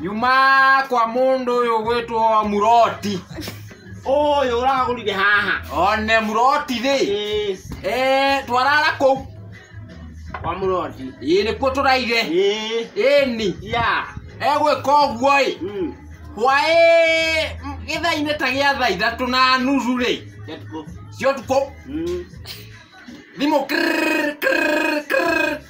nyuma kwa mundu uyu gwitwo muroti Ũyũ ũragũrire haha. one muroti thi Ĩĩ, eh twarara kuu Kwa mũroti. ii nikuo turaire Ĩĩ. ini Ya. egwika uguo i Mm. hwaĩ gĩthainĩ ta gĩa thaa ithatũ na nuthu rĩ Yatuko. cia ũtukũ Mm. thimũ krrrr, krrrr, krrrr.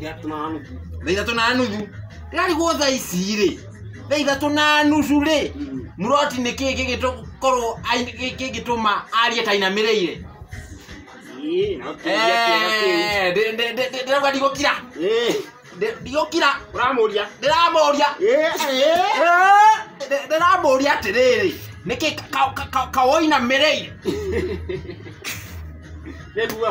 ithatũ na nuthu thaa ithatũ na nuthu rarigwo thaa ici rĩ thaa ithatũ na nuthu rĩ muroti nĩ kĩĩ gĩgĩkorwo gĩgĩtũma arie ta inamĩrĩire Ĩĩ, no kĩũria kĩega kĩu. Eh, ndĩ- ndĩ- ndĩ- ndĩ- ndĩrauga ndigũkira Ĩĩ, Ndĩ- ndigũkira ũramũria ndĩramũria Ĩĩ, ĩĩ. Ndĩ- ndĩramũria atĩrĩrĩ nĩkĩ kawoinamĩrĩire nĩguo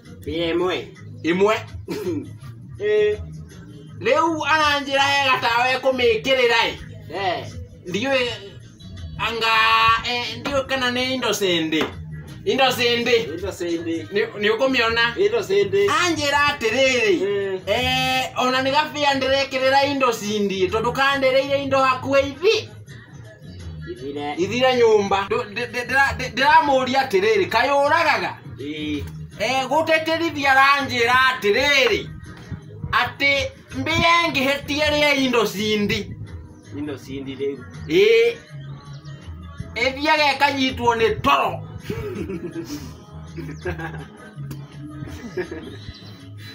Ĩĩ, ĩmwe ĩmwe Ĩĩ, rĩu aranjĩra ega tawa ekũmĩkĩrĩra ĩ eh, ndiũĩ anga eh, ndiũĩ kana nĩ indo cĩndĩ indo cĩndĩ ĩndo cĩndĩ Nĩ- nĩ ũkũmĩona ĩndo cĩndĩ anjĩra atĩrĩrĩ Mm. eh, ona nĩ gabĩa ndĩrekĩrĩra indo cindie tondũ kandereire indo hakuhĩ ithi ithire ithire nyũmba Ndũ- ndĩ- ndĩ- ndĩra- ndĩ- ndĩramũria atĩrĩrĩ kaĩ ũragaga ĩĩ Eh, gũtĩtĩrithia ranjĩra atĩrĩrĩ atĩ mbĩa ĩngĩhĩtie rĩa indo cindi indo cindi rĩu ĩĩ ĩthiaga ĩkanyitwo nĩ toro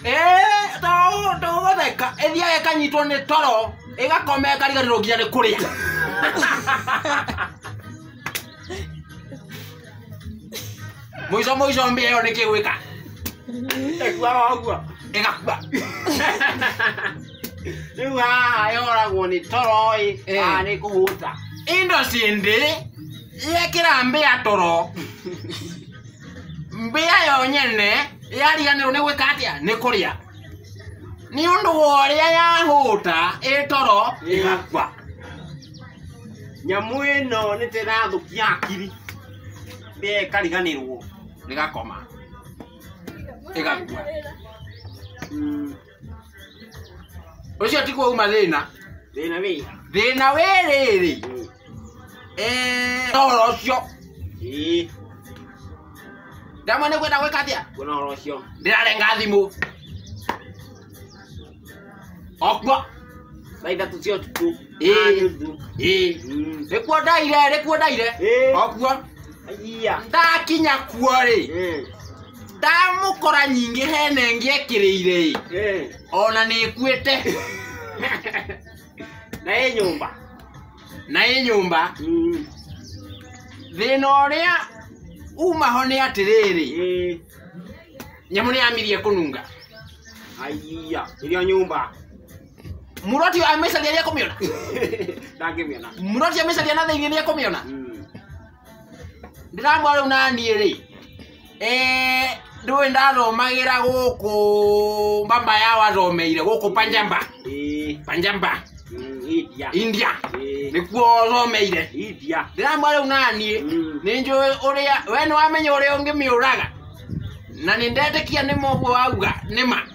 Eh, to to gotheka ethia ekanyitwo nĩ toro ĩgakome kariganĩrwo nginya nĩ kũrĩa mũico mũico mbĩa ĩyo nĩ kĩgwĩka ĩkua ũguo ĩgakua rĩu haha yoragwo nĩ toro ĩ Eh. haha nĩ kũhũta indo cindĩ yekĩra mbĩa toro mbĩa yo nyene yariganĩrwo nĩ gwĩka atĩa nĩ kũrĩa nĩ ũndũ wa ũrĩa yahũta ĩ toro ĩgakua nyamũ ĩno nĩ tĩrathũkia hakiri mbĩa ĩkariganĩrwo ĩgakoma ĩgakua ũcio tiguo uma thĩna Thĩna wĩ. thĩna wĩ rĩrĩ Eh, ũhoro ũcio Ĩĩ. ndamwe nĩ kwenda gwĩka atĩa Kuona ũhoro ũcio. ndĩrarenga thimũ okwo Thaa ithatũ cia ũtukũ. nĩkuo ndaire nĩkuo ndaire okuo ndakinya kuo rĩ ndamũkora nyingĩ hena ĩngĩ ekĩrĩire ĩ ona nĩkuĩte na ĩ nyũmba na ĩ nyũmba thĩna ũrĩa umaho nĩ atĩrĩrĩ nyamũ nĩyamirie kũnunga aiya irio nyũmba Muroti ũyũ amecaria rĩa kũmĩona. ndangĩmĩona Muroti amecaria na thĩinĩ rĩa kũmĩona. Mm. Ndĩramwa rĩu naniĩ rĩ. Eh, ndũĩ ndathomagĩra gũkũ mbamba ya wathomeire gũkũ Panjamba. Ĩĩ. Panjamba, Mm, India. India. Ĩĩ. Nĩkuo wathomeire. India. Ndĩramwa rĩu naniĩ Mm. nĩ njũĩ ũrĩa we nĩ wamenya ũrĩa ũngĩmĩũraga na nĩ ndetĩkia nĩ moguo wauga nĩ ma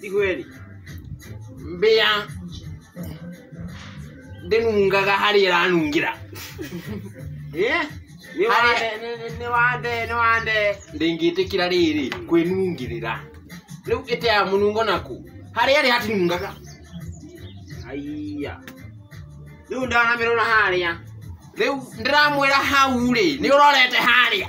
Tigweri. Mbĩa ndĩnungaga harĩa ĩranungĩra. Eh? Nĩ wande, nĩ- nĩ- nĩ wande, nĩ wande. Ndĩngĩtĩkĩra rĩrĩ kwĩnungĩrĩra. Rĩu ĩteaga mũnungo naku. Harĩa ĩrĩ hatinungaga. Aiya. Rĩu ndanamĩrora harĩa. Rĩu ndĩramwĩra hau rĩ, nĩ ũrorete harĩa.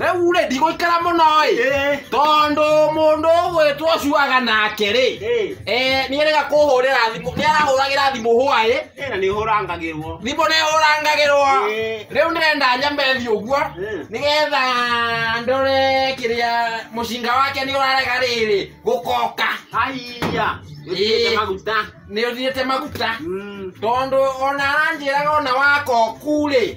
rĩu rĩ ndigũikara mũno ĩ Eh, tondũ mũndũ ũgwĩtwo cuaga nake rĩ eh. eh, nĩ erega kũhũrĩra thimũ nĩ arahũragĩra thimũ hwaĩ Eh, na nĩ hũrangagĩrwo thimũ nĩ hũrangagĩrwo Eh. rĩu ndĩrenda nyambe thiĩ ũguo Eh. nĩgetha ndore kĩrĩa mũcinga wake nĩ ũrarega rĩrĩ gũkoka aiya Eh. nĩtĩte maguta nĩ ũthiĩte maguta Mm. tondũ ona aranjĩraga ona wakoku rĩ